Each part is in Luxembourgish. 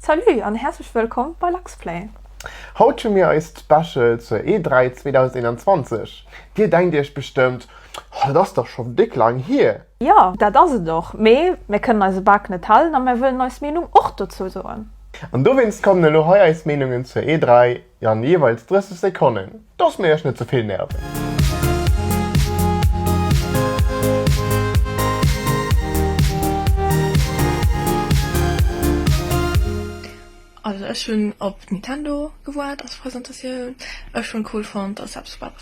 Salut an häerzlech wëllkomm bei Luxplay! Haut hu mir eist Special zur E3 2021. Dir denkt iech bestëmmt, Oh, dat ass dach scho déck laang hier! Jo, dat ass et och, mee mär kënnen eise Bak net halen a mär wëllen eis Meenung och dozou soen. An dowéinst kommen elo hei eis Meenungen zur E3 Jo an jeeweils 30 Sekonnen, dass mir iech net ze vill nerven. Also ech hunn op Nintendo gewaart als Presentatioun. Ech hunn cool fonnt dass se eppes gebaut hunn.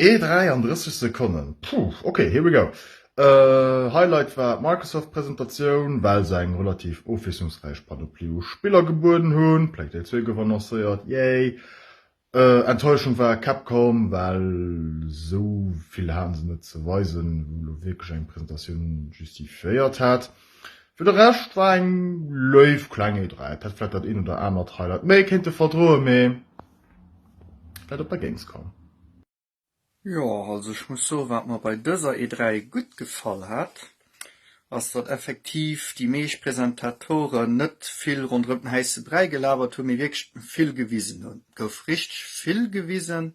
Ee 33 Sekonnen, puuh, ok, here we go. Highlight war d'Microsoft Presentatioun, well se eng relativ ofwiesslungsräich Panoplie u Spiller gebueden hunn. Plague Tale 2 gouf annoncéiert, yay! Enttäuschung war Capcom, well sou vill haten se net ze weisen, wou elo wierklech eng Presentatioun justifiéiert hätt. Fir de Rescht war eng léif kleng E3, et hätt vläit dat eent oder anert Highlight méi kéinte verdroen, mee. dat op der Gamescom. Jo, also ech muss soen, wat mer bei dëser E3 gutt gefall hat, ass datt effektiv déi meescht Presentatoren net vill ronderëm den häisse Bräi gelabert hunn, mee wierklech vill gewisen hunn. Et gouf richteg vill gewisen,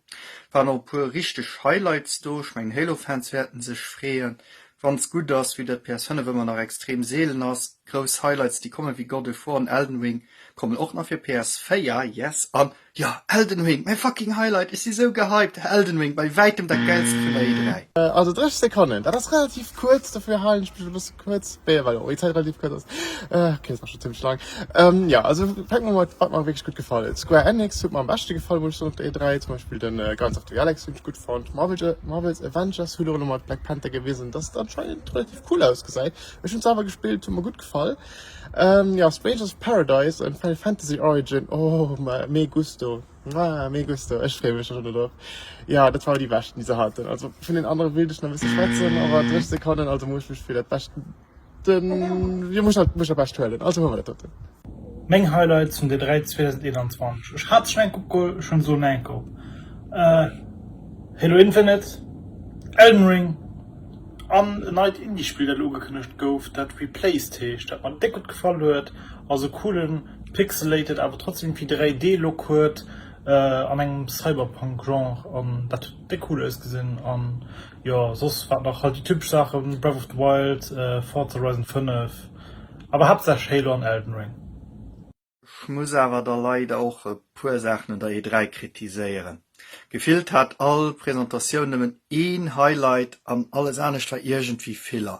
et waren och e puer richteg Highlights do. Ech mengen d'Halo Fans wäerten sech freeën, wann se gutt ass, wéi dat d'PS 5 ëmmer nach extrem seelen ass. Grouss Highlights déi kommen, wéi God of War an Elden Ring, Kommen och nach fir PS 4 yes an jo Elden Ring mäi fucking Highlight ech si sou gehypt Elden Ring bei wäitem dat gäilste vun der E3. Also 30 Sekonnen, dat ass relativ kuerz, dofir halen ech mech e bësse kuerz, beh well och Zäit relativ kuerz ass. Okay, ass nach schonn zimmlech laang. Jo, also fänke mer mat, wat mer wierklech gutt gefall huet. Square Enix huet mer am beschte gefall, muss ech soen, op der E3. Zum Beispill de Guardians of the Galaxy hunn ech gutt fonnt. Marvel's Avengers huet och elo mat Black Panther gewisen, dass et anscheinend relativ cool ausgesäit. Ech hunn se awer gespillt, huet mer gutt gefall. Jo Strangers Paradise an Final Fantasy Origin oh me gusto ah me gusto ech freeë mech schon drop jo dat waren déi beschten déi se haten also vun den anere wéilt ech nach e bësse schwätzen awer dréch Sekonnen also muss ech mech fir dat bescht den jo muss ech halt mech der bescht huelen also hu mer dat doten. Meng Highlights vun der 3 2021, ech hat se schon enk opgeholl, ech hunn se elo nach enk op, Halo Infinite, Elden Ring, An en neit Indie-Spill, dat ugekënnegt gouf, dat Replaced heescht, dat mer déck gutt gefall huet, a sou coole pixelated awer trotzdem irgendwie 3D-Look huet an engem Cyberpunk-Genre, an dat huet déck cool ausgesinn. An jo, soss wat nach, halt déi typesch Saachen, Breath of the Wild, Forza Horizon 5, awer haaptsächlech Halo an Elden Ring. Ech muss awer da leider och e puer Saachen un der E3 kritiséieren. Gefillt hat all Presentatioun nëmmen een Highlight an alles anescht war iergendwéi Filler.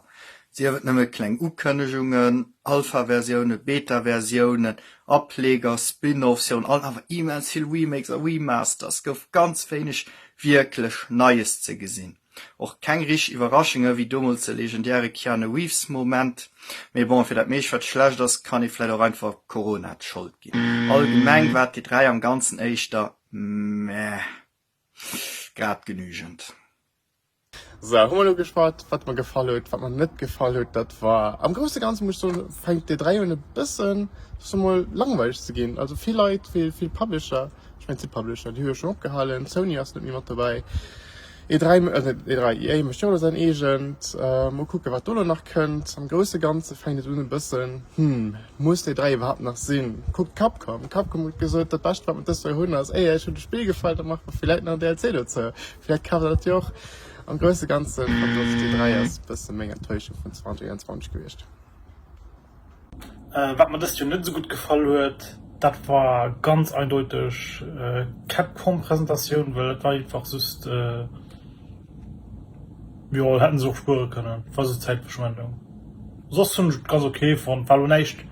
Sief et nëmme kleng Ukënnegungen, Alpha-Versiounen, Beta-Versiounen, Ableger, Spin-Offs, virun allem awer immens vill Remakes a Remasters, gouf ganz wéineg wierklech Neies ze gesinn. Och keng richteg Iwwerraschunge wéi domols de legendäre Keanu Reeves Moment. Mee bon, fir dat meescht wat schlecht ass, kann ee vläit och einfach Corona d'Schold ginn. Allgemeng war d'E3 am ganzen éischter meh, grad genügend. Sou, hu mer elo geschwat wat mer gefall huet, wat mer net gefall huet. Dat war am grousse Ganze muss ech soen, fänkt d'E3 un e bëssen, ech soe mol, langweileg ze ginn. Also vill Leit, vill Publisher, ech mengen et si Publisher, déi hu jo schonn opgehalen, Sony ass net méi mat dobäi, E dräi, e dräi i, e mécht jo elo säin eegent. Mol kucken, wat do elo nach kënnt. Am grousse Ganze fänkt et un e bëssen, Hm, muss d'E dräi iwwerhaapt nach sinn? Kuckt Capcom. Capcom huet gesot, dat Bescht, wat mer dëst Joer hunn, ass EA. Iech huet de Spill gefall, da maache mer villäit nach en DLC dozou. Villäit kaaft der dat jo och. Am grousse Ganzen, Pathos, d'E dräi ass e bësse meng Enttäuschung vun 2021 gewiescht. Wat mer dëst Joer net esou gutt gefall huet, dat war ganz eindeuteg d'Capcom Presentatioun, well dat war einfach just, jo hätten se och spuere kënnen, war just Zäitverschwendung. Soss hunn ech et ganz ok fonnt, war lo näischt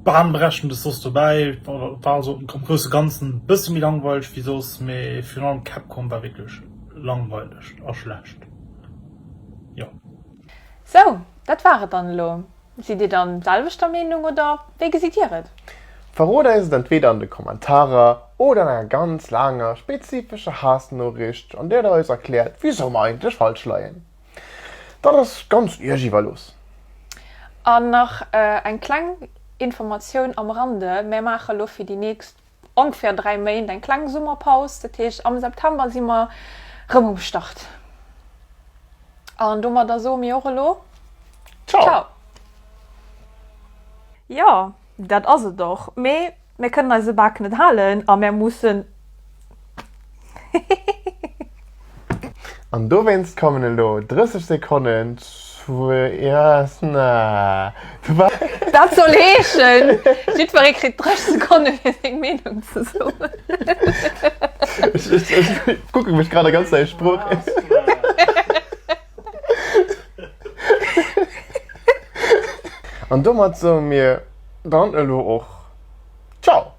bahnbrechendes soss dobäi, war also am grousse ganzen e bësse méi langweileg wéi soss, mee virun allem d'Capcom war wierklech langweileg a schlecht, jo. Sou, dat war et dann elo. Sidd Dir dann selwechter Meenung oder wéi gesitt Dir et? Verrot eis et entweder an de Kommentarer oder an enger ganz laanger, spezifescher Haassnoriicht an där Der eis erkläert wisou mer eigentlech falsch leien. Dat ass ganz Iech iwwerlooss. An nach eng kleng Informatioun am Rande, Mär maache lo fir déi nächst. Ongeféier 3 Méint, eng kleng Summerpaus. Dat heescht, am September si mer rëm um Start. An domadder soe mir och elo Ciao! Jo, dat ass et och, mee mär kënnen eise Bak net halen a mär mussen. An dowéinst kommen elo 30 Sekonnen Zwee-Eessen-Aarbechten. Dat soll heeschen, jiddweree kritt 30 Sekonne fir seng Meenung ze soen. Ech kucke mech grad a ganz nei Sprooch. An domat soe mir dann elo och Ciao!